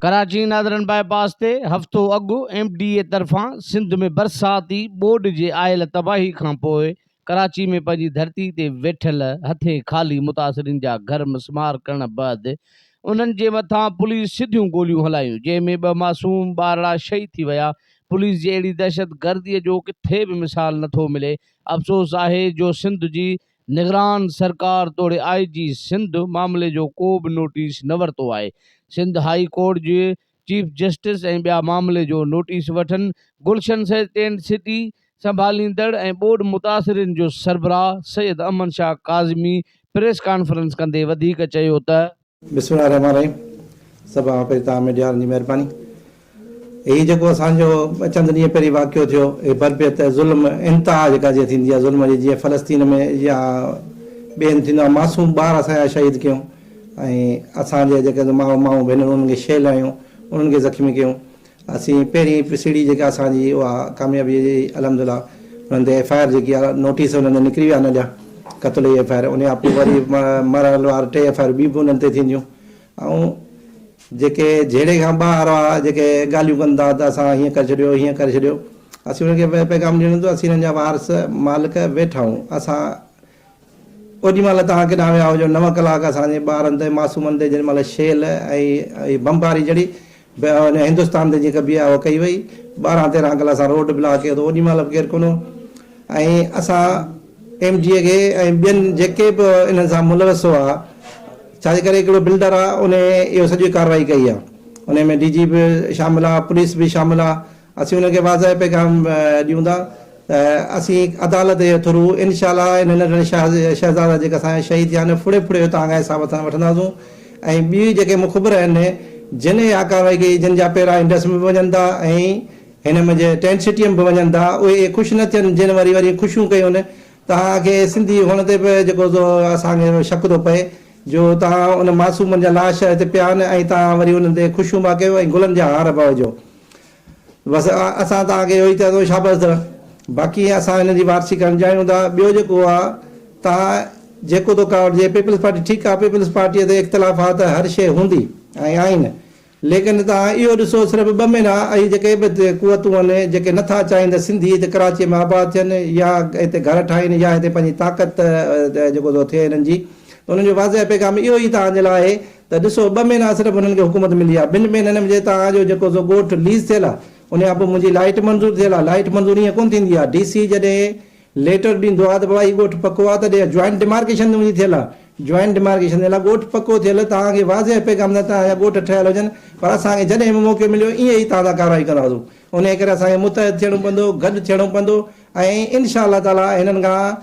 Karachi northern bypass تي هفتو اڳ ايم ڊي اي طرفان سنڌ ۾ برساتي ٻوڏ جي آيل تباهي کانپوء ڪراچي ۾ پنهنجي ڌرتي تي ويٺل هٿين خالي متاثرين جا گهر مسمار ڪرڻ بعد انهن جي مٿان پوليس سڌيون گوليون هلايون جنهن ۾ ٻه معصوم ٻارڙا شهيد ٿي ويا پوليس جي اهڙي دهشت گردي جو ڪٿي به مثال نه ٿو ملي، افسوس آهي جو سنڌ جي نگران سرڪار توڙي آء جي سنڌ معاملي جو ڪو به نوٽيس نه ورتو آهي، سنڌ هاء ڪورٽ جي چيف جسٽس ۽ ٻيا معاملي جو نوٽيس وٺن، گلشن سيد ٽينٽ سٽي سنڀاليندڙ ۽ ٻوڏ متاثرين جو سربراهه سيد امن شاهه ڪاظمي پريس ڪانفرنس ڪندي وڌيڪ چيو ته. بسم الله الرحمٰن الرحيم سڀ کان پهرين توهان ميڊياوارن جي مهرباني هي جيڪو اسان جو ٻه چند ڏينهن پهرين واقعو ٿيو هي بربيت ظلم انتها جيڪا جيئن ٿيندي آهي ظلم جي جيئن فلسطين ۾ يا ٻئي هنڌ ٿيندو آهي معصوم ٻار اسان جا شهيد ڪيون ۽ اسان جي جيڪي ماء مايون ڀينرون انهن کي شيل هنيون انهن کي زخمي ڪيون اسين پهرين پي سي ڊي جيڪا اسان جي اها ڪاميابي جي الحمدلله انهن تي ايف آء آر جيڪي آهي نوٽيس انهن تي نڪري ويا آهن اڄان قتل جي ايف آء آر انهي کان پوء وري مرحل وار ٽي ايف آء آر ٻي به انهن تي ٿينديون ۽ جيڪي جهيڙي کان ٻاهر وارا جيڪي ڳالهيون ڪن ٿا ته اسان هيئن ڪري ڇڏيو هيئن ڪري ڇڏيو اسين انهن کي پيغام ڏيڻو هوندو اسين انهن جا وارث مالڪ ويٺا آهيون اسان اوڏي مهل توهان ڪيڏانهن ويا هجو نو ڪلاڪ اسان جي ٻارن تي معصومن تي جن مهل شيل ۽ بمباري چڙهي هندستان تي جيئن ڪبي آهي اهو ڪئي وئي ٻارهن تيرهن ڪلاڪ اسان روڊ بلاڪ ڪيو ته اوڏي مهل به ڪير ڪونه هو ۽ اسان ايم جي اي کي ۽ ٻين جيڪي به انهن سان ملوث هئا ڇا جي ڪري هڪڙو بلڊر آهي انهي اهو سڄي ڪارروائي ڪئي آهي انهي ۾ ڊي جي به شامل آهي پوليس به شامل آهي اسين انهن کي واضح پيغام ڏيون ٿا ته اسين عدالت جي ٿرو انشاء الله انهن ننڍڙن شهزادا جيڪي اسان جا شهيد ٿيا آهن ڦڙي ڦڙي اتان کان حساب ٿان وٺنداسون ۽ ٻيئي جيڪي مخبر آهن جن اها ڪارروائي ڪئي جن جا پيرا انڊس ۾ به وڃن ٿا ۽ هن منجهه ٽينٽ سٽي ۾ به وڃن ٿا اهي خوش نه ٿين جن وري وري خوشيون ڪيون توهان کي سنڌي هئڻ تي به جيڪو سو اسان کي شڪ ٿو پئي جو توهان ان معصومن جا لاش هتي پيا آهن ۽ توهان وري انهن تي خوشيون پيا ڪيو ۽ گلن جا هار پيا وجهو. بس اسان توهان کي اهو ئي چئدو شابس در باقي اسان هن جي وارثي ڪرڻ چاهيون ٿا ٻيو جيڪو آ توهان جيڪو ٿو ڪرڻ جي پيپلز پارٽي ٺيڪ آ پيپلز پارٽي تي اختلافات هر شي هوندي ۽ آهن ليڪن توهان اهو ڏسو صرف ٻه مهينا اهي جيڪي به قوتون آهن جيڪي نٿا چاهين ته سنڌي هتي ڪراچي ۾ آباد ٿين يا هتي گهر ٺاهين يا هتي پنهنجي طاقت جيڪو ٿو ٿئي هنن جي ته انهن جو واضح پيغام اهو ئي توهان جي لاء آهي ته ڏسو ٻه مهينا صرف هنن کي حڪومت ملي آ ٻن مهينن ۾ توهان جو جيڪو سو ڳوٺ ليز ٿيل آ ان کان پوء منهنجي لائيٽ منظور ٿيل آ لائيٽ منظور ائين ڪونه ٿيندي آ ڊي سي جڏهن ليٽر ڏيندو آ ته بابا هي ڳوٺ پڪو آ ته ڏي جوائنٽ ڊيمارڪيشن ته منهنجي ٿيل آ جوائنٽ ڊيمارڪيشن ٿيل آ ڳوٺ پڪو ٿيل توهان کي واضح پيغام ته توهان جا ڳوٺ ٺهيل هجن پر اسان کي جڏهن به موقعو مليو ائين ئي توهان سان ڪارروائي ڪنداسون انهي ڪري اسان کي متحد ٿيڻو پوندو گڏ ٿيڻو پوندو ۽ ان شاء الله تعاليٰ هنن کان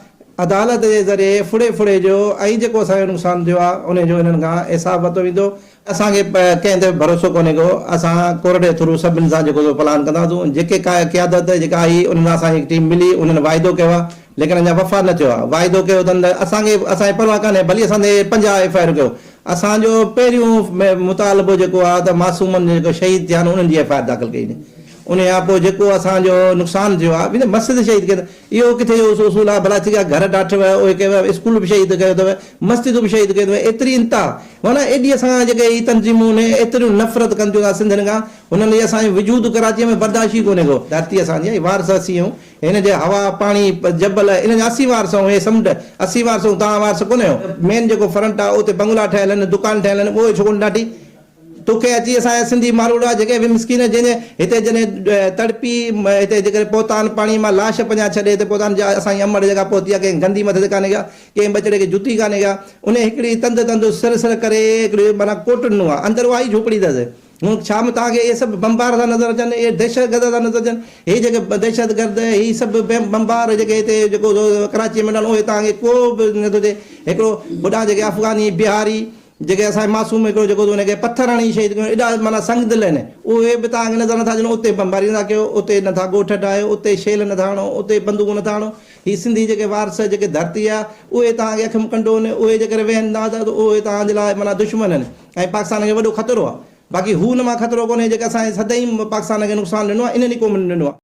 عدالت جي ذريعي ڦڙي ڦڙي جو ۽ جيڪو اسان کي نقصان ٿيو آهي انهي جو هنن کان حساب ورتو ويندو. اسان کي ڪنهن تي به ڀروسو ڪونهي ڪو اسان ڪورٽ جي ٿرو سڀن سان جيڪو سو پلان ڪنداسون جيڪي ڪا قيادت جيڪا آئي انهن سان اسان کي هڪ ٽيم ملي انهن واعدو ڪيو آهي ليڪن اڃا وفا نه ٿيو آهي واعدو ڪيو اٿن ته اسان کي اسان کي پرواهه ڪانهي ڀلي اسان تي پنجاهه ايف آء آر ڪيو اسان جو پهريون مطالبو جيڪو آهي ته معصومن جيڪو شهيد ٿيا آهن انهن جي ايف آء آر داخل ڪئي وڃي. انهيء کان پوء جيڪو اسان جو نقصان ٿيو آهي، وڃي مسجد شهيد ڪيو اٿئي. اهو ڪٿي جو اصول آهي، ڀلا ٿي آهي گهر ڊاٺيو آهي، اهي ڪيو آهي، اسڪول به شهيد ڪيو اٿئي، مسجدون به شهيد ڪيون اٿئي، ايتري انتها! معنيٰ ايڏي اسان کان جيڪي هي تنظيمون اهي ايتريون نفرت ڪن ٿيون اسان سنڌين کان، هنن لئي اسان جو وجود ڪراچيء ۾ برداشت ئي ڪونهي ڪو. ڌرتي اسان جي آهي، وارث اسين آهيون، هن جي هوا، پاڻي، جبل، انهن جا اسين وارث آهيون، هي سمنڊ، اسين وارث آهيون، توهان وارث ڪونهي آهيو. مين جيڪو فرنٽ آهي، اتي بنگلا ٺهيل آهن، دڪان ٺهيل آهن، اهي ڇو ڪونه ڊاٺي؟ تو کي اچي اسان جا سنڌي ماروئڙا جيڪي به مسڪين جن جي هتي جڏهن تڙپي هتي جيڪڏهن پهتان پاڻي مان لاش پنهنجا ڇڏي هتي پهتان جا اسان جي امڙ جيڪا پهتي آ ڪنهن گندي مٿي تي ڪانه ڪيا ڪنهن ٻچڙي کي جتي ڪانه ڪيا انهي هڪڙي تند تند سر سر ڪري هڪڙي معنيٰ ڪوٽ ڏنو آ اندر اها ئي جهوپڙي تس هن ڇا ۾ توهان کي اهي سڀ بمبار ٿا نظر اچن اهي دهشت گرد ٿا نظر اچن هي جيڪي دهشت گرد هي سڀ بمبار جيڪي هتي جيڪو ڪراچي ۾ ڏنو اهي توهان کي ڪو به نٿو چئي هڪڙو هوڏانهن جيڪي افغاني بهاري جيڪي اسان جي معصوم هڪڙو جيڪو تو هن کي پٿر هڻي شهيد ڪيون ايڏا معنيٰ سنگ دل آهن اهي به توهان کي نظر نٿا اچن اتي بمباري نٿا ڪيو اتي نٿا ڳوٺ ڊاهيو اتي شيل نٿا هڻو اتي بندوقون نٿا هڻو هي سنڌي جيڪي وارث جيڪي ڌرتي آهي اهي توهان کي اکيون ڪنڊو آهن اهي جيڪر ويهن ها ته اهي توهان جي لاء معنيٰ دشمن آهن ۽ پاڪستان کي وڏو خطرو آهي باقي هو ان مان خطرو ڪونهي جيڪي اسان جي سدائين پاڪستان کي نقصان ڏنو آهي انهن ئي قومن ڏنو آهي.